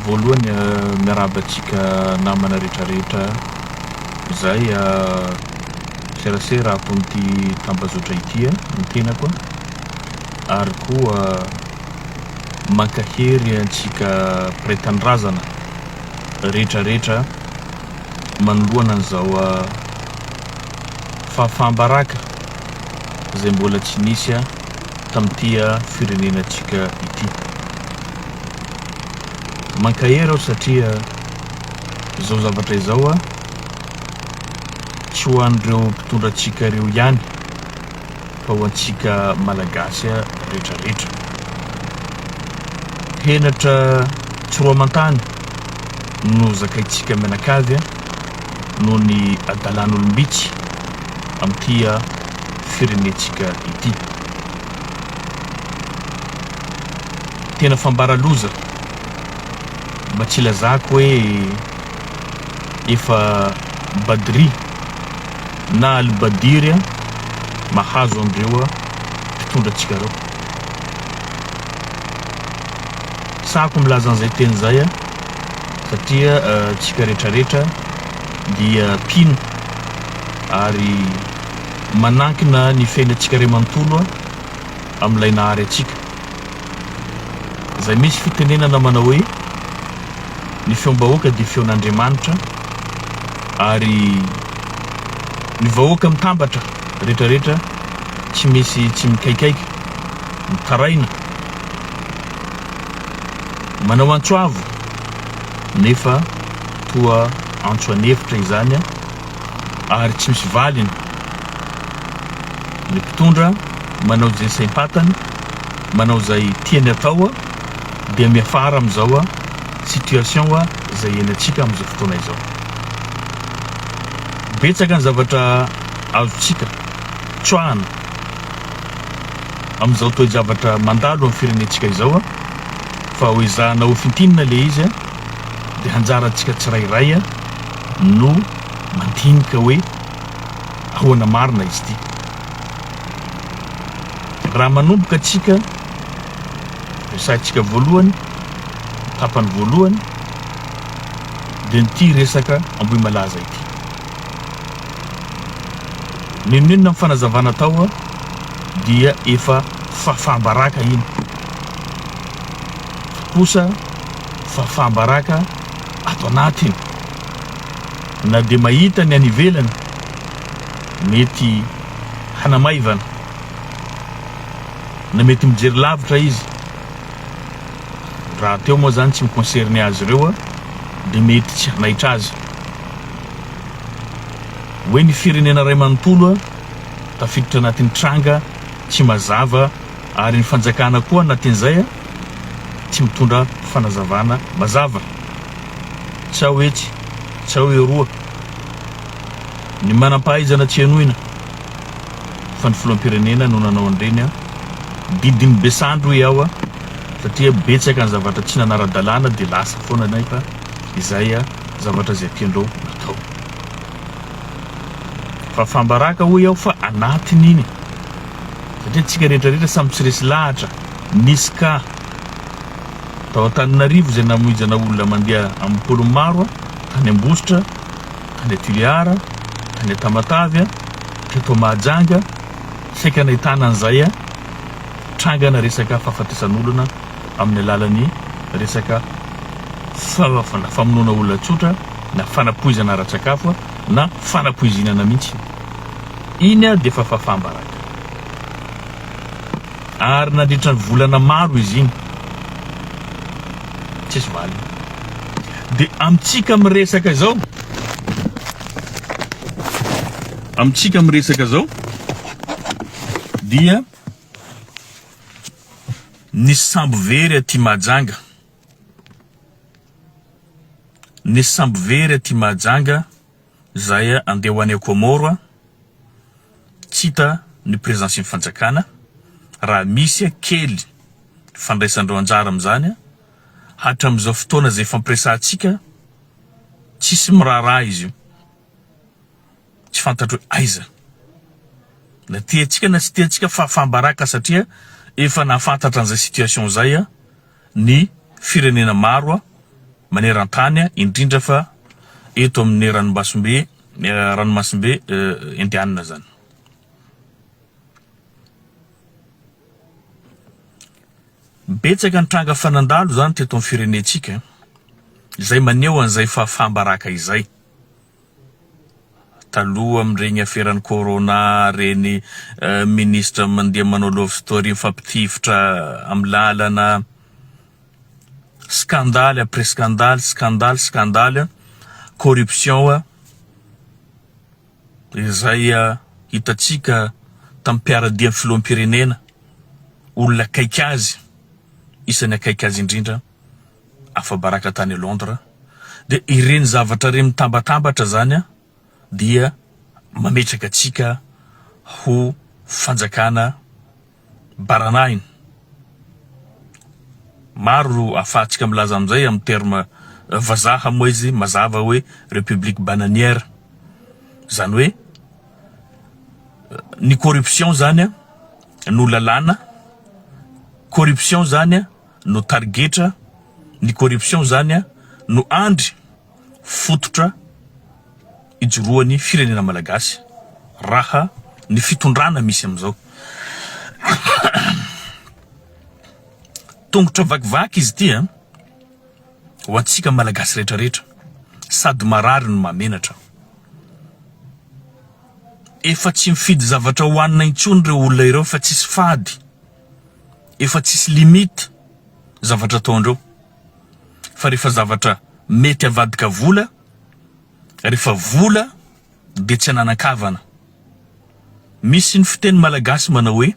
Voalohany miarahaba antsika namana rehetra rehetra izay seraserako amin'ity tambazotra ity ny tenako ary koa mankahery antsika mpiray tanindrazana rehetra rehetra manoloana an'izao fahafaham-baraka izay mbola tsy nisy tamin'ity firenenantsika ity. Mankahery aho satria izao zavatra izao tsy ho an'ireo mpitondra antsika ireo ihany fa ho antsika Malagasy retraretra. Henatra tsy roa aman-tany no zakaintsika mianakavy. noho ny adalan'olom-bitsy amin'ity firenentsika ity. Tena fambara loza, mba tsy ilazako hoe efa Badri na Al-Badiri mahazo an'ireo mpitondra antsika ireo. Sahako milaza an'izay teny izay aho. satria antsika rehetrarehetra dia mpino ary manankina ny fiainantsika iray manontolo amin'ilay nahary antsika. Izay misy fitenenana manao hoe, ny feom-bahoaka dia feon'Andriamanitra ary ny vahoaka mitambatra rehetrarehetra tsy misy tsy mikaikaika, mitaraina. Manao antso avo nefa toa antso an'efitra izany ary tsy misy valiny ny mpitondra, manao izay saim-patany, manao izay tiany atao dia miafara amin'izao situation izay ianantsika amin'izao fotoana izao. Betsaka ny zavatra azontsika tsoahana. amin'izao toe-javatra mandalo amin'ny firenentsika izao fa ho ezahina hofintinina ilay izy dia anjarantsika tsirairay no mandinika hoe ahoana marina izy ity. Raha manomboka antsika, resahintsika voalohany, tapany voalohany, dia ity resaka Ambohimalaza ity. N'inon'inona ny fanazavana atao dia efa fafam-baraka iny. Fa kosa fafam-baraka ato anatiny. Na dia mahita ny any ivelany mety hanamaivana, na mety mijery lavitra izy, rahateo moa izany tsy mi-concerner azy ireo dia mety tsy hanaitra azy. Hoe ny firenena iray manontolo tafiditra anatin'ny tranga tsy mazava ary ny fanjakana koa anatin'izay tsy mitondra fanazavana mazava. Tsy ao etsy, tsy ao eroa ny manam-pahaizana tsy henoina fa ny filoham-pirenena no nanao an'ireny didin'ny be sandry hoy aho satria betsaka ny zavatra tsy nanara-dalàna dia lasa foana nefa. izay zavatra izay tianreo atao fa fambaraka hoy aho fa anatiny iny satria antsika rehetra rehetra samy tsy resy lahatra nisy ka tao Antananarivo izay namoijana olona mandeha amin'ny polony maro a tany Ambositra tany a Toliara tany a Tamatavy a teto Mahajanga saika nahitana an'izay a trangana resaka fahafatesan'olona amin'ny alalan'ny resaka fahafana, famonoana olona tsotra na fanapoizana ara-tsakafo na fanapoizinana mihitsy. Iny ary dia efa fahafaham-baraka. Ary nandritra ny volana maro izy iny. Tsisy valiny. Dia amintsika miresaka izao, amintsika miresaka izao dia. Nisy sambo very aty Mahajanga Nisy sambo very aty Mahajanga izay andeha ho any Comore tsy hita ny presensin'ny fanjakana raha misy kely fandraisandreo anjara amin'izany hatramin'izao fotoana izay fampiresahantsika tsisy miraharaha izy io. tsy fantatro hoe aiza na tiantsika na tsy tiantsika fahafaham-baraka satria efa nahafantatra an'izay situation izay ny firenena maro maneran-tany indrindra fa eto amin'ny ranomasimbe ranomasimbe indianina izany. Betsaka ny tranga fa nandalo izany teto amin'ny firenentsika izay maneho an'izay fahafaham-baraka izay taloha amin'ireny aferan'ny corona ireny ministra mandeha manao love story mifampitifitra amin'ny lalana skandaly après skandaly skandaly skandaly corruption izay hitantsika tamin'ny mpiaradia ny filoham-pirenena olona akaiky azy isan'ny akaiky azy indrindra afa-baraka tany Londres dia ireny zavatra ireny mitambatambatra izany dia mametraka antsika ho fanjakana baranahiny. Maro no ahafahantsika milaza amin'izay amin'ny terme vazaha moa izy mazava hoe république bananière. Izany hoe ny corruption izany no lalàna, corruption izany no tarigetra ny corruption zany a no andry fototra ijoroany firenena malagasy raha ny fitondrana misy amizao tongotra vakivaky izy ity a ho antsika malagasy retraretra sady marary no mahamenatra efa tsy mifidy zavatra hoanina intsony reo olona ireo fa tsisy fady efa tsisy limite zavatra ataondreo fa refa zavatra mety avadika vola refa vola de tsy ananan-kavana misy ny fiteny malagasy manao hoe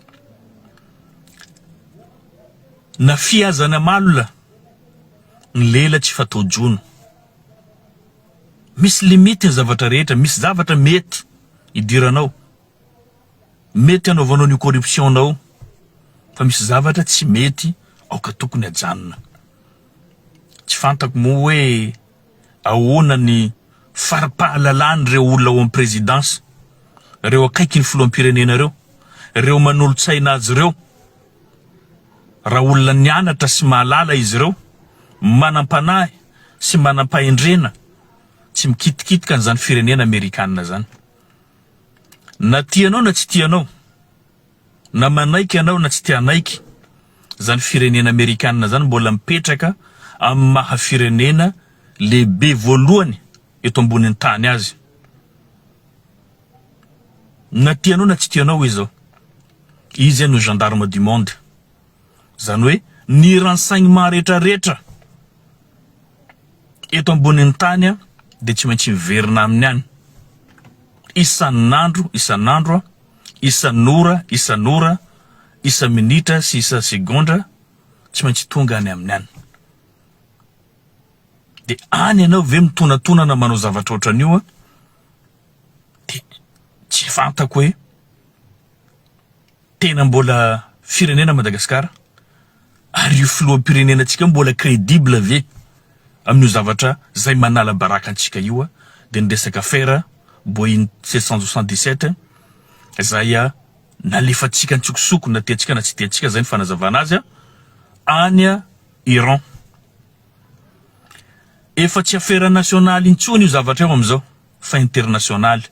na fihazana malina ny lela tsy fatao jono misy limite ny zavatra rehetra misy zavatra mety hidiranao Mety anaovanao an'io corruption nao fa misy zavatra tsy mety aoka tokony ajanona. Tsy fantako moa hoe ahoana ny fari-pahalalan'ireo olona ao am présidence, ireo akaiky ny filoham-pirenena ireo, ireo manolo-tsaina azy ireo, raha olona nianatra sy mahalala izy ireo, manam-panahy sy manam-pahendrena, tsy mikitikitika an'izany firenena amerikana izany. Na tianao na tsy tianao, na manaiky anao na tsy te hanaiky, zany firenena amerikana zany mbola mipetraka amin'ny maha firenena lehibe voalohany eto ambonin'ny tany azy. Na tianao na tsy tianao hoe zao, izy zany no gendarme du monde. Zany hoe ny rantsaigny maha retraretra eto ambonin'ny tany dia tsy maintsy miverina aminy any isan'andro isan'andro, isan'ora isan'ora, isa-minitra sy isa-segondra, tsy maintsy tonga any aminy any. Dia any ianao ve mitonatonana manao zavatra ohatran'io an? Dia tsy fantako hoe Tena mbola firenena Madagascar? Ary io filoham-pirenena antsika io mbola credible ve amin'io zavatra zay manala baraka antsika io de ny resaka affaire Boeing sept cent soixante dix sept zay nalefantsika antsokosoko na tiantsika na tsy tiantsika zay ny fanazavana azy any Iran. Efa tsy affaire nationale intsony io zavatra io amizao fa internationale.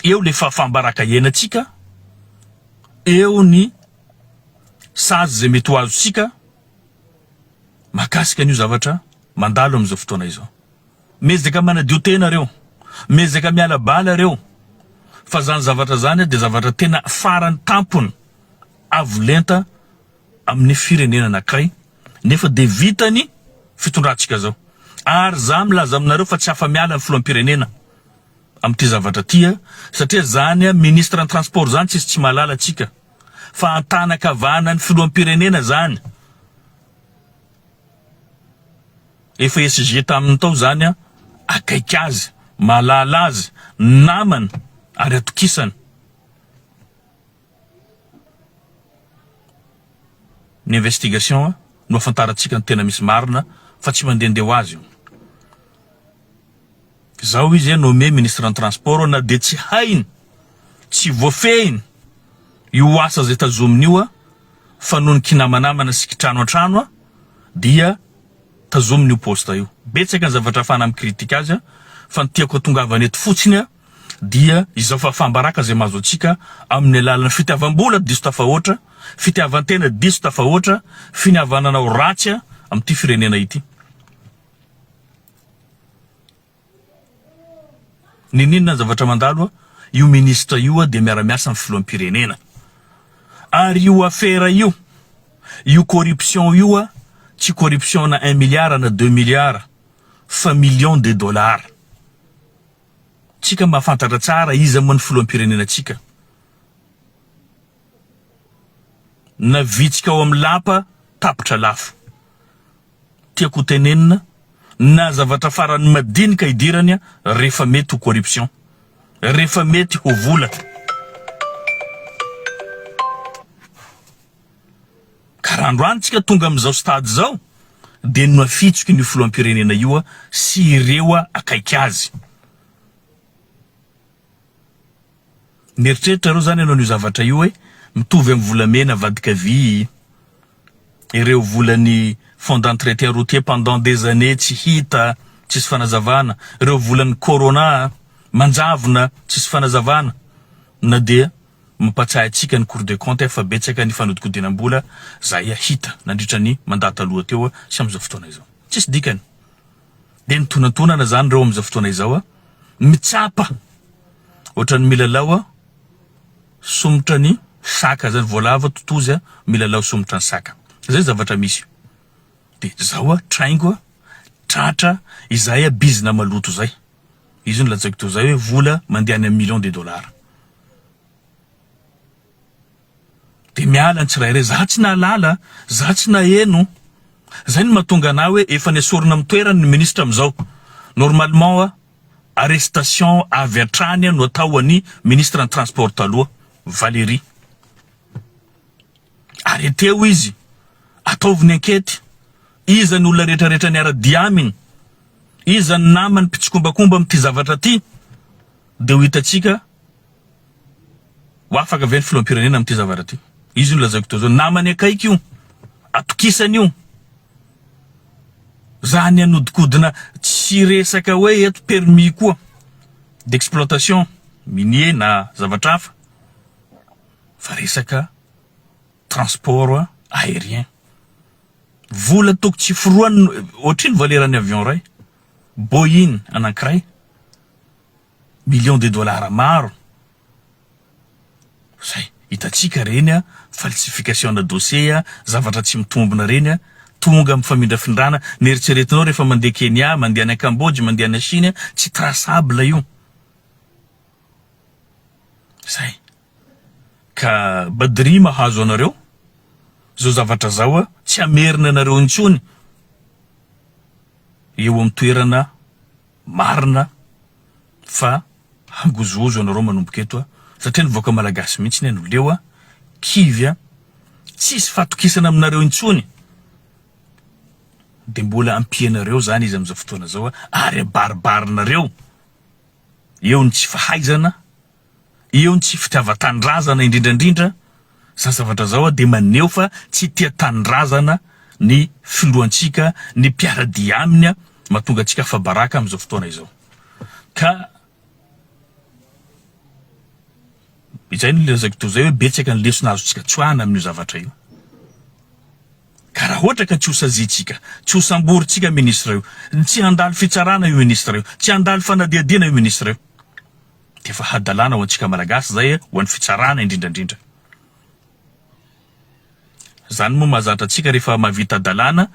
eo le fahafaham-baraka hiainantsika, eo ny sazy izay mety ho azontsika mahakasika an'io zavatra mandalo amin'izao fotoana izao. Miezaka manadio tena reo, miezaka miala bala reo fa zany zavatra zany dia zavatra tena farany tampony avo lenta amin'ny firenena anankiray nefa dia vitan'ny fitondrantsika zao. Ary za milaza aminareo fa tsy afa-miala ny filoham-pirenena. amin'ity zavatra ity a! satria zany a ministre ny transport zany tsisy tsy mahalala tsika fa antanakavana ny filoham-pirenena zany efa SG taminy tao zany a! akaiky azy mahalala azy namany ary atokisany Ny investigation no afantarantsika ny tena misy marina fa tsy mandehandeha ho azy io. Zao izy nommé ministre ny transport na dia tsy hainy, tsy voafehiny io asa zay tazominy io fa noho ny kinamanamana sy kitrano antrano dia tazominy io poste io. Betsaka ny zavatra afahana mi-critique azy fa ny tiako atongavana eto fotsiny dia izao fahafaham-baraka izay mahazo antsika amin'ny alalan'ny fitiavam-bola diso tafahoatra, fitiavan-tena diso tafahoatra, finiavanana ho ratsy amin'ity firenena ity. Niniana ny zavatra mandalo, io ministra io dia miara-miasa amin'ny filoham-pirenena. Ary io afera io, io corruption io, tsy corruption-na un milliard na deux milliards fa millions de dollars. Tsika mahafantatra tsara iza moa ny filoham-pirenenantsika na vitsika ao amin'ny lapa tapitra lafo. Tiako ho tenenina na zavatra farany madinika hidirany rehefa mety ho corruption, rehefa mety ho vola. Ka raha androany tsika tonga amin'izao stade izao dia nohafitsiky an'io filoham-pirenena io sy ireo akaiky azy. Mieritreritra reo zany ianao an'io zavatra io hoe mitovy amin'ny volamena avadika vy ireo volan'ny fonds d'entretien routier pendant des années tsy hita, tsisy fanazavana, ireo volan'ny corona manjavona tsisy fanazavana na dia Mampatsiahy antsika ny Cour des comptes fa betsaka ny fanodikodinam-bola zahay hita nandritra ny mandat taloha teo sy amin'izao fotoana izao. Tsisy dikany. Dia mitonantonana izany ireo amin'izao fotoana izao, mitsapa ohatran'ny milalao somotra ny saka izany, voalavo totozy milalao somotra ny saka. Izay ny zavatra misy. Dia izao traingo, tratra, izay bizina maloto izay. Izy io no lazaiko teo izay hoe vola mandeha any amin'ny millions de dollars. Dia miala ny tsirairay, za tsy nahalala, za tsy naheno, zay no mahatonga anah hoe efa nesorina amin'ny toerany ny ministra amin'izao. Normalement a, arrestation avy hatrany no atao an'i ministre ny transport taloha, Valéry. Arreter-ho izy, ataovy ny enquete, iza ny olona retraretra niara-dia aminy, iza ny namany mpitsikombakomba amin'ity zavatra ity. Dia ho hitantsika ho afaka ve ny filoham-pirenena amin'ity zavatra ity. Izy io nolazaiko teo izao, namany akaiky io, atokisany io. Izany hanodikodina tsy resaka hoe eto permis koa d'exploitation minier na zavatra hafa fa resaka transport aérien. Vola toko tsy forohany, ohatrino valeran'ny avion iray. Boeing anankiray millions de dollars maro zay hitantsika reny a, falsification na dossier a, zavatra tsy mitombina reny a, tonga mifamindrafindrana, neritreretinao rehefa mandeha Kenya, mandeha any Cambodge, mandeha any Chine, tsy traçable io. Zay. Ka Badri mahazo anareo zao zavatra zao a, tsy hamerina anareo intsony. eo amin'ny toerana marina fa hangozohozo anareo manomboka eto satria ny vahoaka malagasy mihitsy anie no leo a, kivy a, tsisy fahatokisana aminareo intsony de mbola ampianareo zany izy amin'izao fotoana zao ary abaribarinareo eo ny tsy fahaizana, eo ny tsy fitiavan-tanindrazana indrindra indrindra zao zavatra zao dia maneho fa tsy tia tanindrazana ny filohantsika ny mpiara-dia aminy mahatonga antsika afa-baraka amin'izao fotoana izao ka izay no lazaiko toy izay hoe betsaka ny lesona azontsika tsoahina amin'io zavatra io ka raha ohatra ka tsy ho saziantsika tsy ho samborintsika minisitra io tsy handalo fitsarana io minisitra io tsy handalo fanadihadiana io minisitra io Efa hadalana ho antsika Malagasy izay eh, ho an'ny fitsarana indrindra indrindra. Zany moa mahazatra antsika rehefa mahavita dalana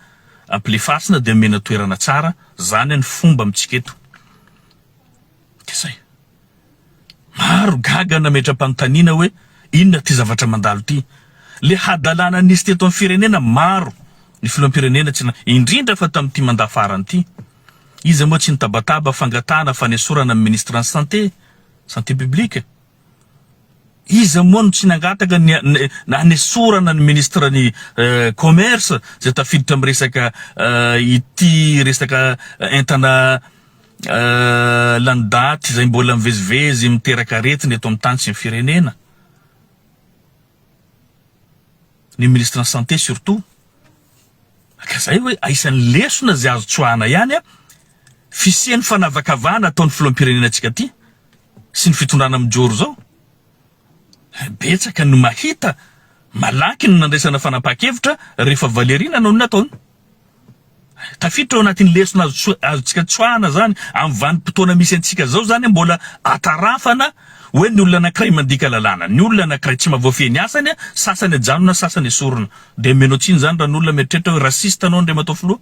ampilefasina dia omena toerana tsara, zany ny fomba amintsika eto. Dia zay. Maro gaga nametra-panontaniana hoe inona ity zavatra mandalo ity. Le hadalana nisy teto amin'ny firenena maro ny filoham-pirenena tsy na indrindra fa tamin'ity mandat farany ity. Iza moa tsy nitabataba fangatahana fanesorana ny Ministran'ny Santé, Santé Publique? Iza moa no tsy nangataka ny hanesorana ny Ministran'ny Commerce izay tafiditra amin'ny resaka ity resaka entana lany daty izay mbola mivezivezy miteraka aretina eto amin'ny tany sy ny firenena? ny ministran'ny santé surtout ka zay hoe aisan'ny lesona zay azo tsoahana ihany a fisian'ny fanavakavahana ataon'ny filoham-pirenena antsika ty sy ny fitondrana mijoro zao betsaka no mahita malaky ny nandraisana fanapaha-kevitra rehefa valeriana no ny nataony Tafiditra ao anatin'ny lesona azo tso- azontsika tsoahana izany amin'ny vanim-potoana misy antsika izao izany hoe mbola atarafana hoe ny olona anankiray mandika lalàna, ny olona anankiray tsy mba voafehy ny asany, sasany ajanona, sasany esorina. Dia omena tsiny izany raha ny olona mieritreritra hoe raciste anao Andriamatoa Filoha?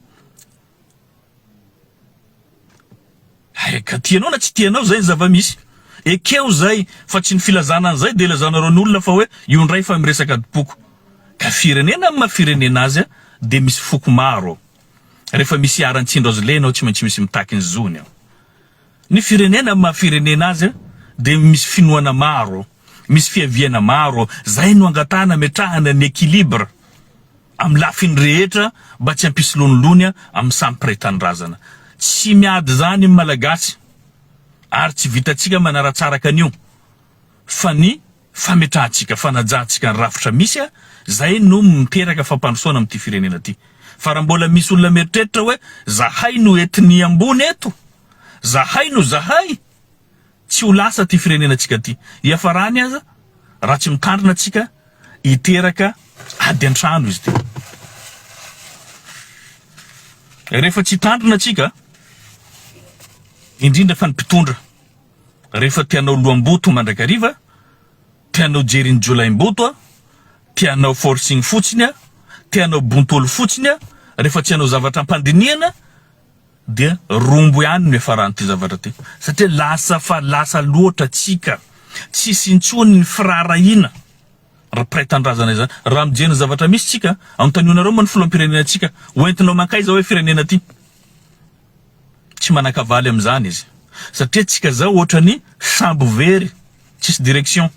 Hay ka tianao na tsy tianao zay ny zava-misy. Ekeo zay fa tsy ny filazana an'izay dia ilazanareo ny olona fa hoe io ndray efa miresaka adim-poko. Ka firenena amin'ny maha firenena azy dia misy foko maro. Rehefa misy iharan'ny tsindro azy lena ao tsy maintsy misy mitaky ny zony ao. Ny firenena amin'ny maha firenena azy dia misy finoana maro, misy fiaviana maro, zay no angatahana ametrahana ny equilibre. amin'ny lafiny rehetra mba tsy hampisy lonilony amin'ny samy mpiray tanindrazana. Tsy miady izany ny Malagasy ary tsy vitantsika manaratsaraka an'io fa ny fametrahantsika, fanajantsika ny rafitra misy izay no miteraka fampandrosoana amin'ity firenena ity. Fa raha mbola misy olona mieritreritra hoe zahay no ethnie ambony eto, zahay no zahay, Tsy ho lasa ty firenenantsika ty. Iafarany aza raha tsy mitandrina antsika hiteraka ady antrano izy ty. Rehefa tsy hitandrina antsika, indrindra fa ny mpitondra, rehefa te hanao loham-boto mandrakariva, te hanao jerin'ny jiolahim-boto, te hanao forcing fotsiny, te hanao bontolo fotsiny, rehefa tsy hanao zavatra am-pandinihana, Dia rombo ihany no hiafaran'ity zavatra ity satria lasa fa lasa loatra tsika, tsisy intsony ny firaharahiana ry mpiray tanindrazana izany raha mijery ny zavatra misy tsika a! Anontanionareo moa ny filoham-pirenenantsika hoentinao mankaiza hoe firenena ity? Tsy manan-kavaly amin'izany izy satria tsika zao ohatran'ny sambo very tsisy direction.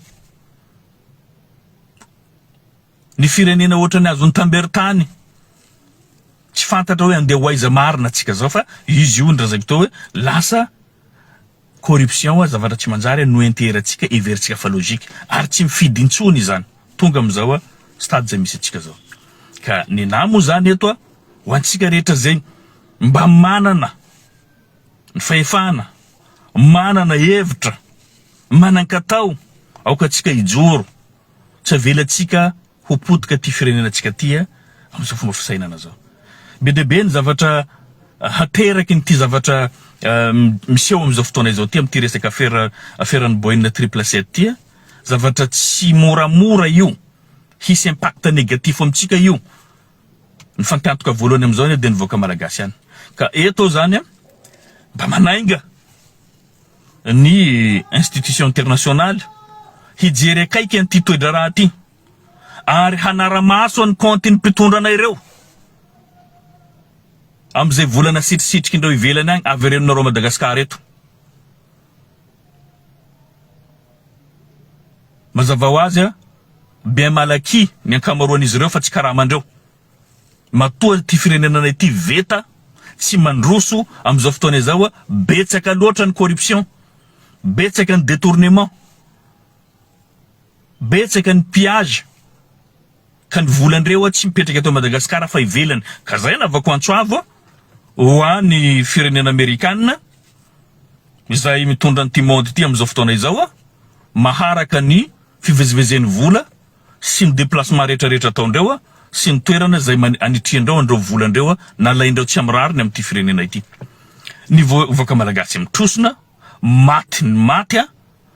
Ny firenena ohatran'ny azon'i Tambert any tsy fantatra hoe andeha ho aiza marina antsika zao fa izy io ndra zaiko teo hoe lasa corruption zavatra tsy manjary no enteherantsika heverintsika fa logique ary tsy mifidy intsony izany tonga amin'izao stade zay misy antsika zao ka nenahy moa zany eto ho antsika rehetra zay mba manana ny fahefana manana hevitra manan-katao aoka antsika hijoro Tsy avelantsika ho potika ty firenenantsika ty a, amin'izao fomba fisainana zao. Be dia be ny zavatra hateraky ny ty zavatra miseho amin'izao fotoana izao ty amin'ity resaka afera aferan'ny Boeing triple sept ty a. Zavatra tsy moramora io, hisy impact négatif amintsika io. Nifankantoka voalohany amin'izao anie dia ny vahoaka malagasy ihany. Ka eto aho zany mba manainga. ny institution internationale hijery akaiky an'ity toedraharaha ity ary hanara-maso an'ny kaontin'ny mpitondra anay ireo amin'izay volana sitrisitrik'indreo ivelany agny averenonareo à Madagascar eto. Mazava ho azy, bien malaky ny ankamaroan'izy ireo fa tsy karamandreo Matoa ity firenenanay ity veta sy mandroso amin'izao fotoana izao, betsaka loatra ny corruption, betsaka ny detournement, betsaka ny pillage, ka ny volan'ireo tsy mipetraka eto Madagasikara fa ivelany, ka zay no avako antso avo ho any firenena amerikana izay mitondra an'ity monde ity amin'izao fotoana izao, maharaka ny fivezivezen'ny vola, sy ny déplacement rehetra rehetra ataondreo sy ny toerana izay anitriandreo andreo volandreo nalaindreo tsy am rariny am ty firenena ity ny vahoaka malagasy am trosona maty ny maty a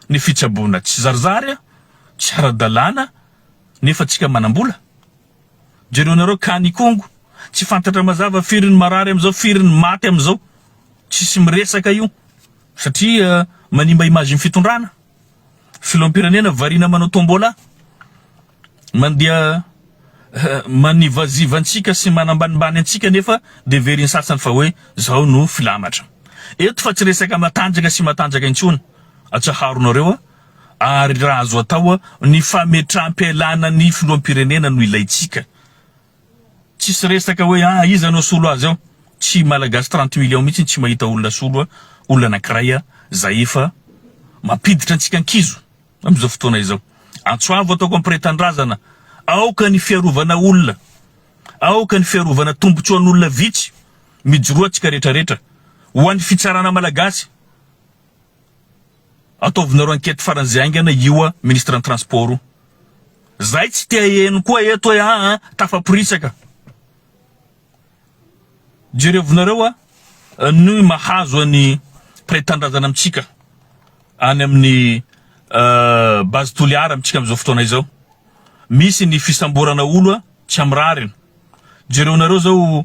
ny fitsaboana tsy zarizary a tsy ara dalàna nefa tsika manambola jereo nareo ka ny kongo tsy fantatra mazava firy ny marary am zao firy ny maty am zao tsisy miresaka io satria manimba image ny fitondrana. Filoham-pirenena variana manao tombola, mandeha manivaziva antsika sy manambanimbany antsika nefa dia heverin'ny sasany fa hoe izao no filamatra. Eto fa tsy resaka matanjaka sy matanjaka intsony, atsaharonareo a! ary raha azo atao, ny fametraham-pialana ny filoham-pirenena no ilaintsika. Tsisy resaka hoe ah iza no solo azy ao, tsy Malagasy trente millions mihitsy no tsy mahita olona solo a, olona anakiray a, zay efa mampiditra antsika ankizo amizao fotoana izao. Antso avo ataoko ampiretan-drazana, aoka ny fiarovana olona, aoka ny fiarovana tombotsoan'olona vitsy, mijoroa antsika retraretra, ho an'ny fitsarana Malagasy, Ataovinareo enquête faran'izay haingana ioa ministran'ny transport io. Zay tsy te haheno koa eto hoe aa tafaporitsaka. Jerevinareo a ny mahazo an'i Pray Tanindrazana amintsika any amin'ny base Toliara amintsika amin'izao fotoana izao. Misy ny fisamborana olo a tsy amin'ny rariny. Jereonareo zao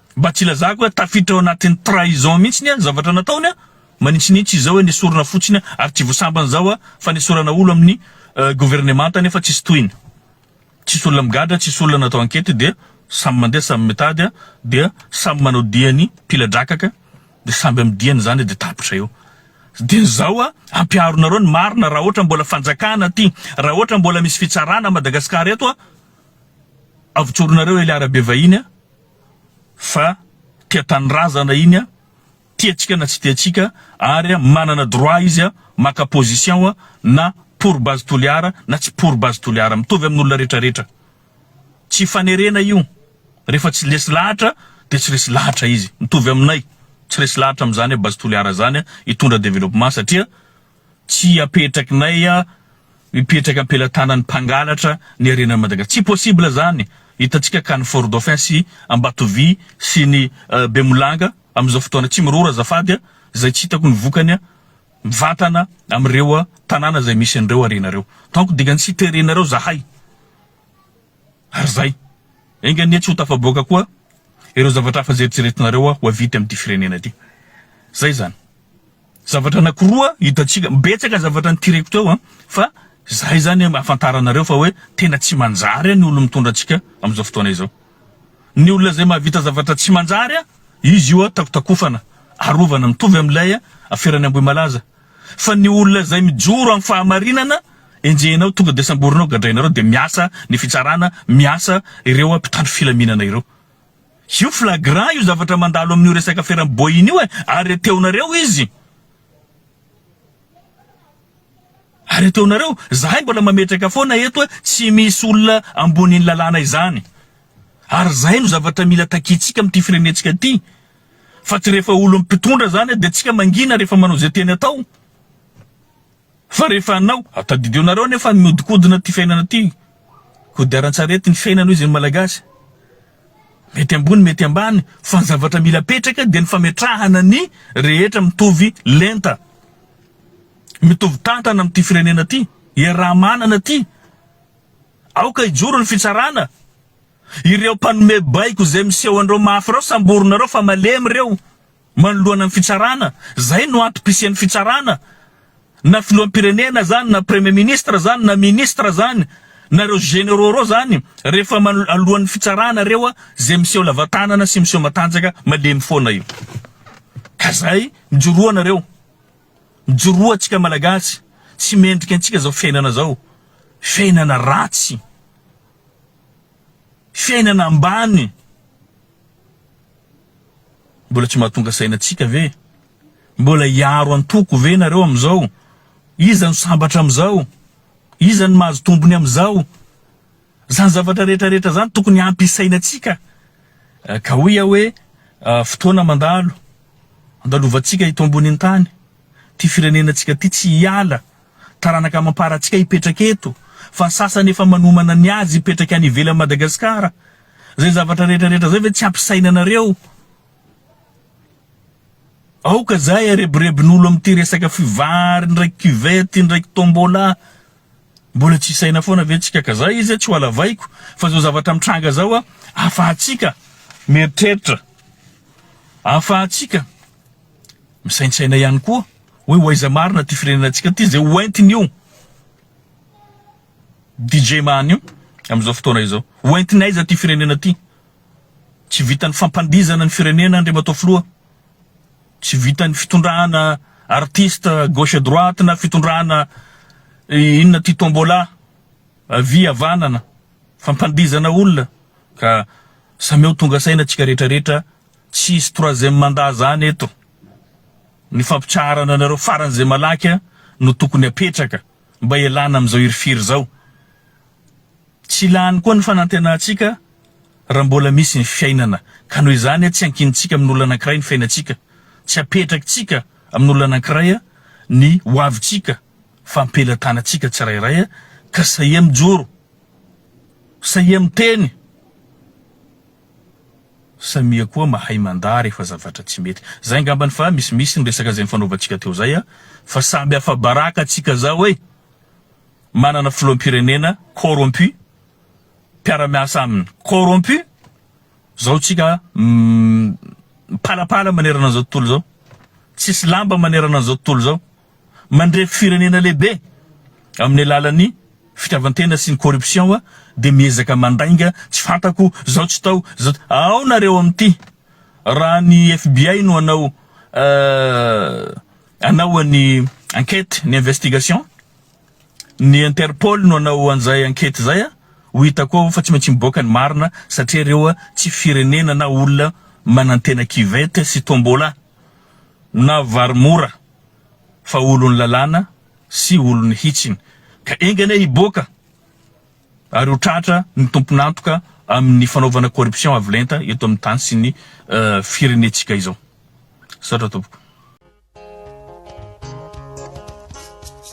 Mba tsy ilazako hoe tafiditra ao anatin'ny trahison mihitsy ny zavatra nataony an! Manintsinintsy izao hoe nesorina fotsiny an! Ary tsy vosambany izao an! Fanesorana olo amin'ny governemanta nefa tsisy tohiny. Tsisy olona migadra, tsisy olona natao ankety dia samy mandeha samy mitady an! Dia samy manao diany mpila-drakaka dia samby amin'ny diany izany dia tapitra eo. Dia izao an! Ampiharonareo ny marina raha ohatra mbola fanjakana ty, raha ohatra mbola misy fitsarana Madagascar eto an! Avotsoronareo Ely Arabe vahiny an! fa tia tanindrazana iny a, tia antsika na tsy tia antsika ary a manana droit izy a maka position a na pour Base Toliara na tsy pour Base Toliara, mitovy amin'olona rehetra rehetra. Tsy hifanerena io, rehefa tsy lesy lahatra dia tsy resy lahatra izy, mitovy aminay tsy resy lahatra amin'izany a Base Toliara zany a hitondra développement satria, Tsy apetrakinay mipetraka am-pelatanan'ny mpangalatra ny harenan'i Madagasikara. Tsy possible izany. Hitantsika ka ny Fort Dauphin sy Ambatovy sy ny Bemolanga amin'izao fotoana. Tsy miroro azafady izay tsy hitako ny vokany mivantana amin'ireo tanàna izay misy an'ireo harena ireo. Donc dingany tsy terenareo izahay. Ary izay. Enga anie tsy ho tafaboaka koa ireo zavatra hafa izay eritreretinareo ho havita amin'ity firenena ity. Izay izany. Zavatra anakiroa hitantsika, betsaka zavatra nitireko teo an, fa zay zany ahafantaranareo fa hoe tena tsy manjary an ny olona mitondra antsika amin'izao fotoana izao. Ny olona izay mahavita zavatra tsy manjary an, izy io an takotakofana, arovana, mitovy amin'ilay an aferany Ambohimalaza. Fa ny olona izay mijoro amin'ny fahamarinana, enjehinao tonga dia samborinao, gadrainareo dia miasa ny fitsarana, miasa ireo an mpitandro filaminana ireo. Io flagrant io zavatra mandalo amin'io resaka feram boeing io e! Arreteonareo izy! Arreteonareo! Zahay mbola mametraka foana eto hoe tsy misy olona ambonin'ny lalàna izany! Ary zay no zavatra mila takiantsika amin'ity firenentsika ity! Fa tsy rehefa olon'ny mpitondra zany dia tsika mangina rehefa manao izay tiany atao! Fa rehefa anao, tadidio nareo anie fa miodikodina ty fiainana ty, kodiarantsarety ny fiainana hoy zay ny malagasy. Mety ambony mety ambany fa ny zavatra mila apetraka dia ny fametrahana ny rehetra mitovy lenta, mitovy tantana amin ty firenena ty, iaraha-manana ty. Aoka hijoro ny fitsarana. Ireo mpanome baiko zay miseho anreo mafy reo samborinareo fa malemy reo. manoloana ny fitsarana, zay no antom pisian'ny fitsarana, na filoham-pirenena zany na premier ministre zany na ministre zany na reo généraux reo zany rehefa alohan'ny fitsarana reo a zay miseho lavatanana sy miseho matanjaka malemy foana io ka zay mijoroa anareo mijoroa atsika malagasy tsy mendrika antsika zao fiainana zao fiainana ratsy fiainana ambany Mbola tsy mahatonga saina antsika ve? Mbola hiaro antoko ve nareo amin'izao? Iza no sambatra amin'izao? Iza no mahazo tombony amin'izao? Izany zavatra rehetra rehetra izany tokony hampisaina antsika ka hoy aho hoe fotoana mandalo, andalovantsika eto ambonin'ny tany ity firenena antsika ity tsy hiala, taranaka amam-para antsika hipetraka eto fa ny sasany efa manomana ny azy hipetraka any ivelan'i Madagasikara. Zay zavatra rehetra rehetra zay ve tsy ampisainanareo? Aoka zahay arebirebin'olo amty resaka fivary ndraiky cuvette ndraiky tombola Mbola tsy isaina foana ve tsika ka zay izy a tsy ho alavaiko fa zao zavatra mitranga zao a afahatsika mieritreritra afahatsika misaintsaina ihany koa hoe ho aiza marina ty firenena tsika ty zay ho entiny io. DJ Mahanio amin'izao fotoana izao. Ho entin'aiza ity firenena ity? Tsy vitan'ny fampandihizana ny firenena Andriamatoa Filoha, tsy vitan'ny fitondrana artiste gauche et droite na fitondrana inona ity tombola avia havanana, fampandihizana olona ka samia ho tonga saina antsika rehetra rehetra, tsy hisy troisième mandat zany eto, ny fampitsaharana anareo faran'izay malaky no tokony apetraka. mba hialana amin'izao hirifiry izao. Tsy lany koa ny fanantenantsika raha mbola misy ny fiainana, ka noho izany tsy ankinintsika amin'olona anankiray ny fiainantsika, tsy apetrakitsika amin'olona anankiray ny hoavintsika fa am-pelatanantsika tsirairay ka sahia mijoro, sahia miteny Samia koa mahay mandà rehefa zavatra tsy mety. Zay angambany fa misimisy ny resaka zay nifanaovantsika teo zay a! Fa samy afa-baraka tsika zao e! Manana filoham-pirenena corrompu, mpiara-miasa aminy corrompu, zao tsika mipalapala manerana an'izao tontolo izao, tsisy lamba manerana an'izao tontolo izao. mandrefy firenena lehibe amin'ny alalan'ny fitiavan-tena sy ny corruption dia miezaka mandainga tsy fantako zao tsy tao zao ao nareo amin'ity raha ny FBI no anao anao an'ny enquête ny investigation ny interpol no anao an'izay enquête izay a ho hitako ao fa tsy maintsy miboaka ny marina satria ireo tsy firenena na olona manantena kivete sy tombola na varimora fa olon'ny lalàna sy olon'ny hitsiny, ka enga anie hiboaka ary ho tratra ny tompon'antoka amin'ny fanaovana corruption avo lenta eto amin'ny tany sy ny firenentsika izao. Misaotra tompoko.